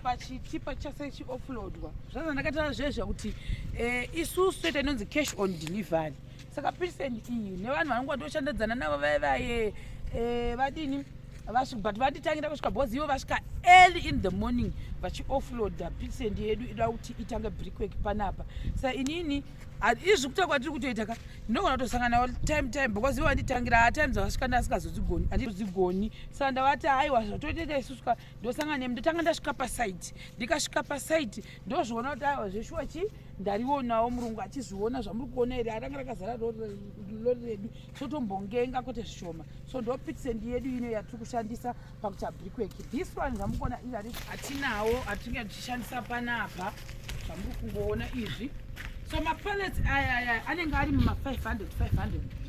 pachichipa chase chioffloadwa zvaza ndakataura zvezva kuti eh, isusu toita inonzi cash on delivery saka percent iyi nevanhu vanonga ndoshandadzana navo vaye vaye eh, vadini but vanditangira kusvika bhozi ivo vasvika early in the morning vachioffloada percent yedu ida kuti itange brickwork panapa sa inini izvi kuta kwatiri kutoita ka ndinogona kutosangana time time because ivo vanditangira haa time dzavasvika ndasingazozigoni andizozigoni saka ndavati aiwa zvatotoita isusuka so, ndosanga nemi ndotanga ndasvika pasaiti ndikasvika pasaiti ndozviona kuti aiwa zveshuwa chi ndarionawo murungu achizviona zvamuri kuona here aranga rakazara lori redu totombongenga kwete zvishoma so ndo pitsend yedu ino yatiri kushandisa pakuta brickwork this one zvamuri kuona izari hatinawo hatinge tichishandisa panapa zvamuri kungoona izvi so mapalets aya aya anenge ari muma 500 500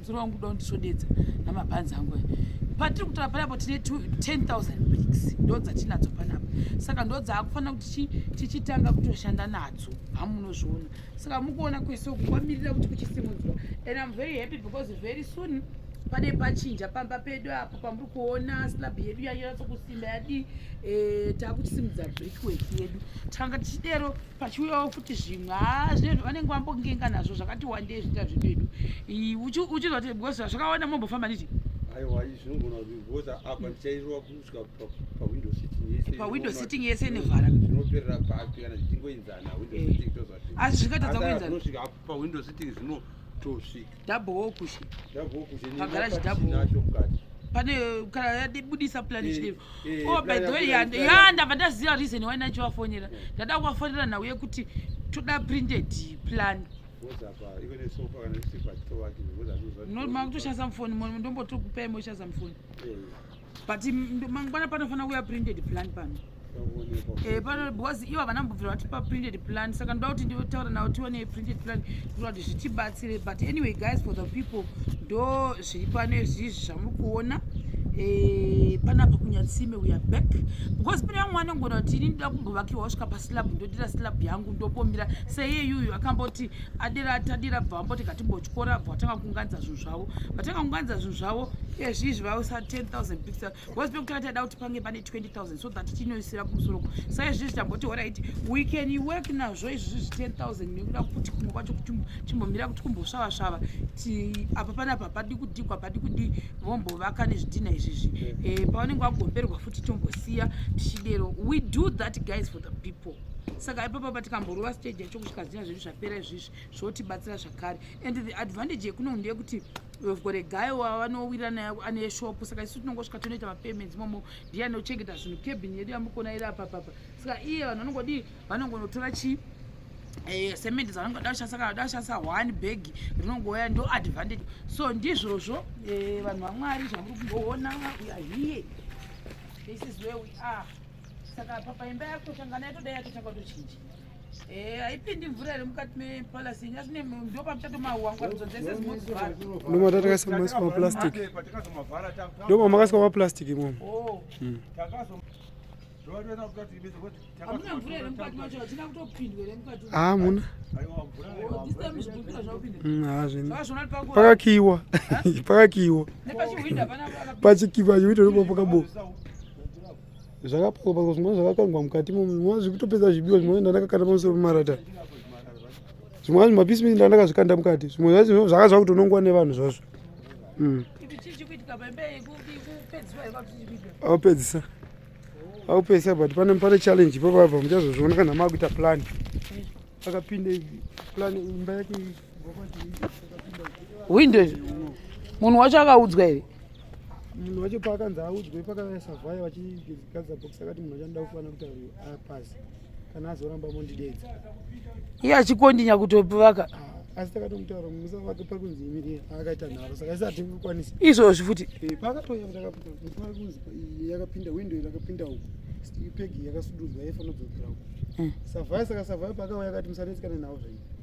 Mzukuru wangu kuda kundisodedza namabhanzi angu aya. Patiri kutora panapo tine 10,000 bricks ndo dzatinadzo panapo. Saka ndo dzaakufanira kuti tichitanga kutoshanda nadzo. Hamunozviona. Saka mukuona kwese uku kwamirira kuti kuchisimudzwa. And I'm very happy because very soon pane pachinja pamba pedu apo pamuri kuona slab yedu yanyatsokusimba yadi e, eh, takuchisimudza brickwork yedu tanga tichidero pachiuyawo futi zvimwe haa zvinezvo vanenge vambongenga nazvo zvakati wandei zviita zvedu edu uchizoti because zvakaona mombofamba niti aiwa izvi zvinogona kuti because apa ndichairova kusvika pawindow sitting yese pawindow sitting yese nevhara zvinoperera papi kana zvichingoinzana window eh. sitting tozvati asi zvingatadza kuinzana pa window sitting zvino tosvika double wo kushe double wo kushe ni garage double nacho mukati pane kana yadibudisa plan eh, chidero eh, oh by the way yanda yanda vandaziva reason why nacho wafonera eh. ndada kuwafonera nhau yekuti toda printed plan ndomutoshandisa mufoni ndombotokupai moshandisa mufoni but mangwana panofanira kuya printed plan pano eh, pano because ivo havana mbobvira vatipa printed plan saka ndoda kuti nditaura navo tione printed plan kuita kuti zvitibatsire but anyway guys for the people ndo zviri pano izvizvi zvamuri kuona Eh, panapa kunyatsime uya back because pane vamwe vanongona kuti ini ndoda kumbovakiwa wasvika paslab ndodira slab yangu ndobombira seiye yuyu akamboti adira tadira bva vamboti ngatimbotyora bva vatanga kunganidza zvinhu zvavo vatanga kungwanidza zvinhu zvavo ezvizvi vausa 10000 pixel was pekutanga taida kuti pange pane 20000 so that tinoisira kumusoro ko sa izvizvi tamboti horaiti we can work nazvo izvizvi zvi 10000 nekuda kuti kumwe kwacho kuti chimbomira kuti kumbosvava svava ti apa panapa hapadi kudhigwa hapadi kudii vombovaka nezvidhina izvizvi mm. eh, pavanenge vagomberwa futi tombosiya tichidero we do that guys for the people saka ipapa patikamborova stage yacho kusvika zina zvedu zvapera izvizvi zvotibatsira zvakare and the advantage yekuno ndeyekuti we've got a guy wavanowira naye ane shop saka isu tinongosvika tonoita mapayments momo ndiye anochengeta zvinhu cabin yedu yamukona iri apapapa saka iye vanhu vanongodii vanongonotora chii Eh, cement dzanonga dashasaka dashasa one bag rinongouya ndo advantage so ndizvozvo eh, vanhu vamwari zvamuri kumboona uya hiye this is where we are saka papa imba yako tanga nayo toda yatotanga tochinja Eh, haipindi mvura iri mukati mepalasi nyasi ndopamuchatomahuwangudzo dzese zimozivhara ndomatakaisa masi maplastic ndomamakaisa maplastic imomo oh. hmm. hamuna pakakiiwa pakakiiwa pachikiva chiwito ndopa pakaboka zvakapakwa zvimwe zvakakangwa mukati mumwe zvekutopedza zvibiwa zvimwe ndandakakanda pamusoro pemarata zvimwe zvacho mapisi mii ndandakazvikanda mukati zvimwe zvacho zvaka zvakutonongwa nevanhu zvazvo mm. aupedzisa aupedzisa but pane pane challenge ipapapa muchazozviona kana maakuita plan akapinde plan imba yake hwindo izvo munhu wacho akaudzwa here munhu wacho paakanzi audzwe pakasavhaya vachigadza box akati munhu achanoda kufanira kuti apasi kana azoramba mondidedza iye achikondinya kutopivaka ah, asi takatomutaura musa wake pari kunzi imiri akaita nharo saka isi hatiri kukwanisa izvozvi futi eh, paakatoya takaari kunzi yakapinda windo yakapinda uku pegi yakasududzwa yaifanira kudzokera uku hmm. savhaya saka savhaya paakauya akati musanetsi kana nhau zvaii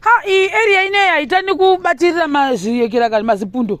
ha iyi area ineyi haitani kubatirira mazviyekera kani mazipundo